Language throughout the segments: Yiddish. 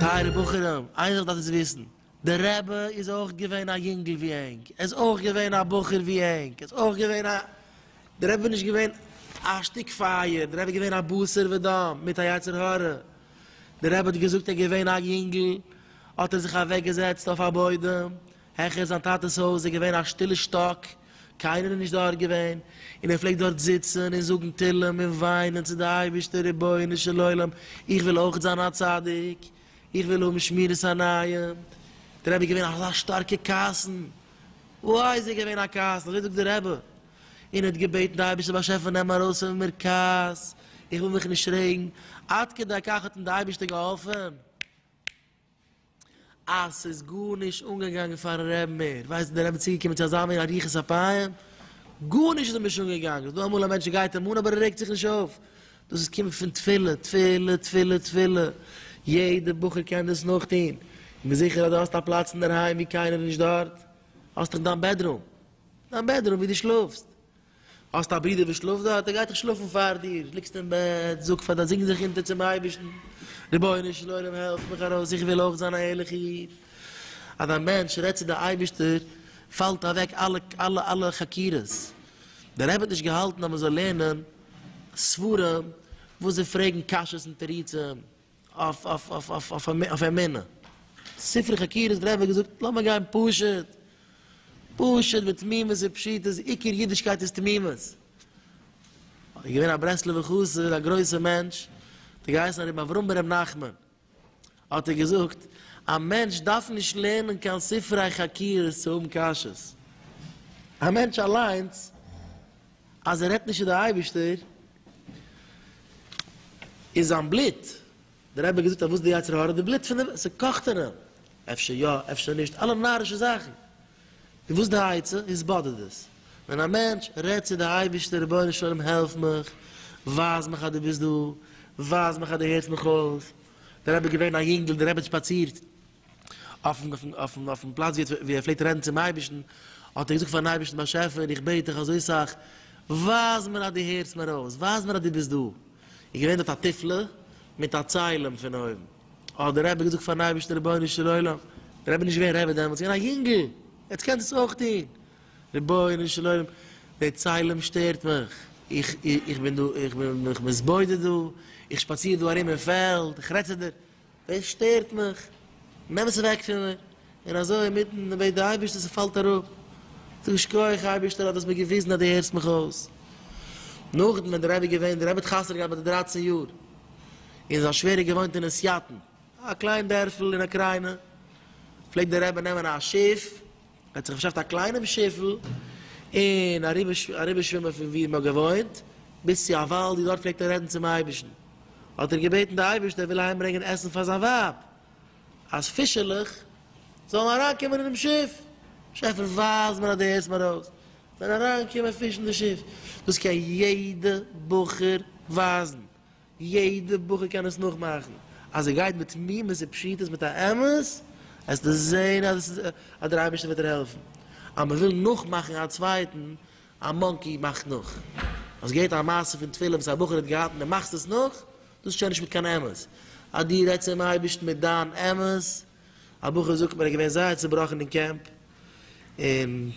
טייערע בחורים, איין זאך דארפט איר וויסן. דער רבי איז אויך געווען א יונגל ווי ענק, ער איז אויך געווען א בחור ווי ענק, ער איז אויך געווען א, דער רבי איז נישט געווען א שטיק פייער, דער רבי איז געווען א בשר ודם מיט א יצר הרע, דער רבי האט געזאגט ער איז געווען א יונגל האט ער זיך אוועק געזעצט אויף א בוידעם העכער זיין טאטעס הויז, עס איז געווען א שטילע שטאק, קיינער איז נישט דארט געווען, און ער פלעגט דארט זיצן און זאגן תהלים און וויינען צו די אייבערשטער רבונו של עולם איך וויל אויך זיין א צדיק, איך וויל האבן שמירת עיניים, דער רבי איז געווען אזא שטארקע קאסן, וואו איז ער געווען א קאסן, אזוי זאגט דער רבי, און ער האט געבעטן די אייבערשטער באשעפער נעם ארויס פון מיר כעס, איך וויל מיך נישט רעגן, עד כדי כך האט אים די אייבערשטער געהאלפן, אז ס'איז גארנישט אנגעגאנגען פארן רבי מער, ווייסט איר דער רבי איז צוגעקומען צו אזא מין אריכות אפיים, גארנישט איז אים נישט אנגעגאנגען, ס'איז דא אמאל א מענטש ער גייט אים אן אבער ער רעגט זיך נישט אויף, דאס קומט פון תפילה, תפילה, תפילה, תפילה, יעדע בחור קען דאס נאכטון, איך בין זיכער אז דו האסט א פלאץ אינדערהיים ווי קיינער איז נישט דארט, האסט דאך דיין בעדרום, דיין בעדרום ווי דו שלאפסט, האסט א ברודער וואס שלאפט דארט, ער גייט דאך שלאפן פאר דיר, ליגסט אין בעט, זאג פאר דיין, זינג זיך אונטער צום אייבערשטן, רבונו של עולם העלף מיך ארויס, איך וויל אויך זיין א ערליכע איד, אז א מענטש רעדט צו די אייבערשטער פאלט אוועק אלע אלע אלע חקירות, דער רבי האט נישט געהאלטן אז מען זאל לערנען. סברה וואס זיי פרעגן קשיות און תירוצים אויף אמונה. ספרי חקירות דער רבי האט געזאגט לאמיר גיין פשוט, פשוט ותמימות ופשיטות, עיקר אידישקייט איז תמימות. געווען א ברסלב'ער חסיד א גרויסער מענטש האט געהייסן הרב אברהם בן ר' נחמן. האט ער געזאגט, א מענטש דארף נישט לערנען קיין ספרי חקירות צו האבן קשיות. א מענטש אליינס, אז ער רעדט נישט צו די אייבערשטער, איז זיין בלוט, דער רבי האט געזאגט אז וואס איז די יצר הרע? די בלוט פון די, ס'קאכט אין אים. אפשר יא, אפשר נישט, אלע נארישע זאכן. איז וואס די עצה? אונז באדערט דאס ווען א מענטש רעדט צו די אייבערשטער רבונו של עולם העלף מיך, ווייז מיך אז דו ביסט דא, ווייז מיך אז דו הערסט מיך אויס, די רבי איז געווען א יונגל, די רבי האט שפאצירט אויפן פלאץ ווי ער פלעגט רעדן צום אייבערשטן, האט ער געזאגט פארן אייבערשטן באשעפער איך בעט דיך אזוי סאך, ווייז מיר אז דו הערסט מיר אויס, ווייז מיר אז דו ביסט דא, איז געווען דארט א תפלה מיט א ציילעם פון אויבן. האט דער רבי געזאגט פארן אייבערשטן רבונו של עולם, דער רבי איז נישט געווען רבי דעמאלטס, געווען א יונגל, יעצט קענסט עס אויך טון, רבונו של עולם, דער צלם שטערט מיך, איך איך בין דא, איך בין מיך מתבודד דא, איך שפאציר דא ארום אין פעלד, איך רעד צו דיר, דאס שטערט מיך, נעם עס אוועק פון מיר, און אזוי אינמיטן בעט די אייבערשטער ס'פאלט אראפ, זאג איך שכוח אייבערשטער אז דו האסט מיר געוויזן אז דו הערסט מיך אויס. נאכדעם ווען די רבי געווען, די רבי האט חתונה געהאט ביי די דרייצן יאר, און זיין שווער האט געוואוינט אין עסיאטן, א קליין דערפל אין אוקריינע, פלעגט די רבי נעמען א שיף, ער האט זיך באשאפט א קליינעם שיפל, און אריבערשווימען פון וואו מ'האט געוואוינט, ביז צו א וואלד, און דארט פלעגט ער רעדן צום אייבערשטן, האט ער געבעטן די אייבערשטער ער וויל אהיימברענגען עסן פאר זיין ווייב. אז פישעלעך זאלן אריינקומען אינעם שיף, שעפער ווייז מיר אז דו הערסט מיר אויס, ווען אריינקומען פיש אין די שיף, דאס קען יעדע בחור ווייזן, יעדע בחור קען עס נאכמאכן, אז ער גייט בתמימות ופשיטות מיט א אמת, עסטו זען אז דער אייבערשטער וועט דיר העלפן, אז מען וויל נאכמאכן א צווייטן, א מאנקי מאכט נאך, אז געבט א מעשה פון תפילה וואס א בחור האט געהאלטן, דו מאכסט עס נאך, דאס איז שוין נישט מיט קיין אמת. אז דו רעדסט צום אייבערשטן מיט דיין אמת. א בחור זאגט מיר ער איז געווען זייער צעבראכן אין קעמפ, און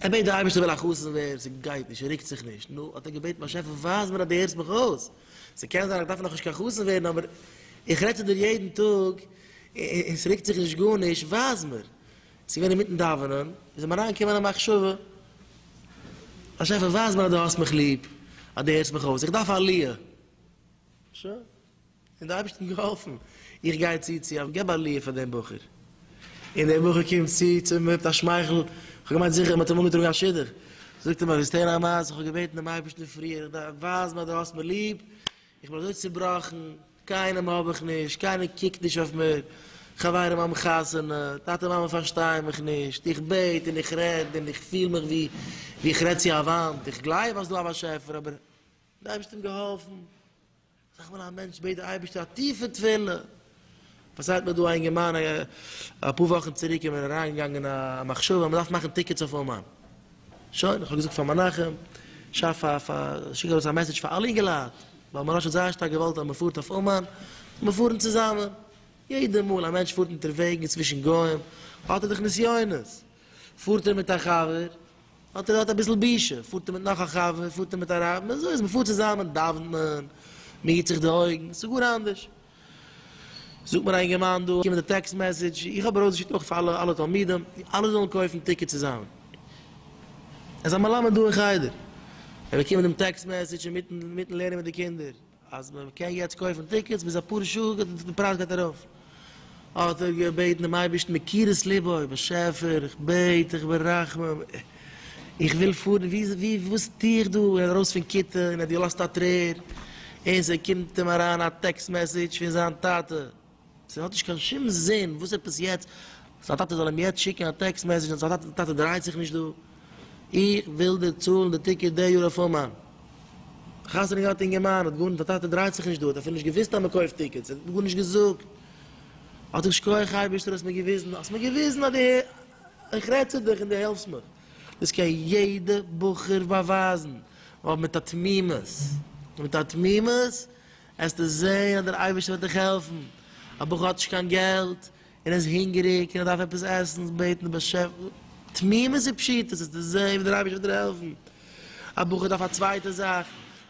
ער בעט די אייבערשטער איך וויל א חתן ווערן, ס'גייט נישט, ס'רוקט זיך נישט, נו, האט ער געבעטן באשעפער ווייז מיר אז דו הערסט מיך אויס, ס'קען זיין איך דארף נאכנישט קיין חתן ווערן אבער איך רעד צו דיר יעדן טאג און ס'רוקט זיך נישט גארנישט, ווייז מיר, ס'געווען אינמיטן דאווענען, איז אים אריינגעקומען א מחשבה, באשעפער ווייז מיר אז דו האסט מיך ליב, אז דו הערסט מיך אויס, איך דארף עליה. שוין. און דער אייבערשטער האט געהאלפן, איך גיי צו צו א געב עליה פאר דעם בחור. און דער בחור קומט צו צו מיר מיט א שמייכל, כ'האב געמיינט זיכער מען האט אים אנגעטראגן א שידוך. זאגט ער מיר, ווילסט הערן א מעשה, איך האב געבעטן דעם אייבערשטן פריער, איך דארף, ווייז מיר אז דו האסט מיר ליב, איך בין אזוי צובראכן, קיינעם האב איך נישט, קיינער קוקט נישט אויף מיר, חברים האבן חתונה, טאטע מאמע פארשטייען מיך נישט, איך בעט און איך רעד און איך פיל מיך ווי ווי איך רעד צו א וואנט, איך גלייב אז דא א באשעפער אבער די אייבערשטער האט געהאלפן, זאג איך בין א מענטש, בעט די אייבערשטער א טיפע תפילה, פארציילט מיר דא א אינגערמאן אפאר וואכן צוריק איז מיר אריינגעגאנגען א מחשבה אז מ'דארף מאכן טיקעטס אויף אומאן. שוין, איך האב געזאגט פאר מנחם, שאף א, שיק ארויס א מעסעדזש פאר אלע אינגעלייט, ווייל מוהראש האט זייער שטארק געוואלט אז מ'פארט אויף אומאן, זאל מען פארן צוזאמען. יעדע מאל א מענטש פארט אונטערוועגן צווישן גוים, האט ער דאך נסיונות. פארט ער מיט א חבר, האט ער דארט אביסל בושה, פארט ער מיט נאך א חבר, פארט ער מיט א רב, אזוי איז, מ'פארט צוזאמען, דאוונט מען, מ'היט זיך די אויגן, ס'איז גאר אנדערש. זאגט מיר א אינגערמאן דא קומען די טעקסט מעסעדזש, איך האב ארויסגעשיקט אויך פאר אלע תלמידים אלע זאלן קויפן טיקעט צוזאמען, עס איז א מלמד דא אין חדר, ער באקומט דעם טעקסט מעסעדזש אינמיטן לערנען מיט די קינדער אז מען קען יעצט קויפן טיקעטס ביז אפאר שעה גייט די פרייז גייט ארויף, האט ער געבעטן דעם אייבערשטן מקירות ליבו, באשעפער איך בעט דיך ברחמים. איך וויל פארן, ווי, ווי, וואס טוה איך דא? ער איז ארויס פון כיתה און ער האט געלאזט א טרער, און ס'קומט אים אריין א טעקסט מעסעדזש פון זיין טאטע, ס'האט נישט קיין שום זין, וואס עפעס יעצט זיין טאטע זאל אים יעצט שיקן א טעקסט מעסעדזש אז זיין טאטע דרייט זיך נישט דא? איך וויל דיר צאלן די טיקעט די יאר אויף אומאן. חתונה געהאט אינגערמאן, האט גארנישט, זיין טאטע דרייט זיך נישט דא, האט אפילו נישט געוואוסט אז מ'קויפט טיקעטס, ער האט גארנישט געזאגט, האט איך, שקויעך אייבערשטער האסט מיר געוויזן, האסט מיר געוויזן אז די. איך רעד צו דיך און דו העלפסט מיך. דאס קען יעדע בחור באווייזן, ווייל מיט א תמימות, מיט א תמימות, עסטו זען אז דער אייבערשטער וועט דיך העלפן. א בחור האט נישט קיין געלט, און איז הונגעריג, און ער דארף עפעס עסן, זאל בעטן די באשעפער, תמימות ופשיטות, עסטו זען ווי דער אייבערשטער וועט דיר העלפן. א בחור דארף א צווייטע זאך,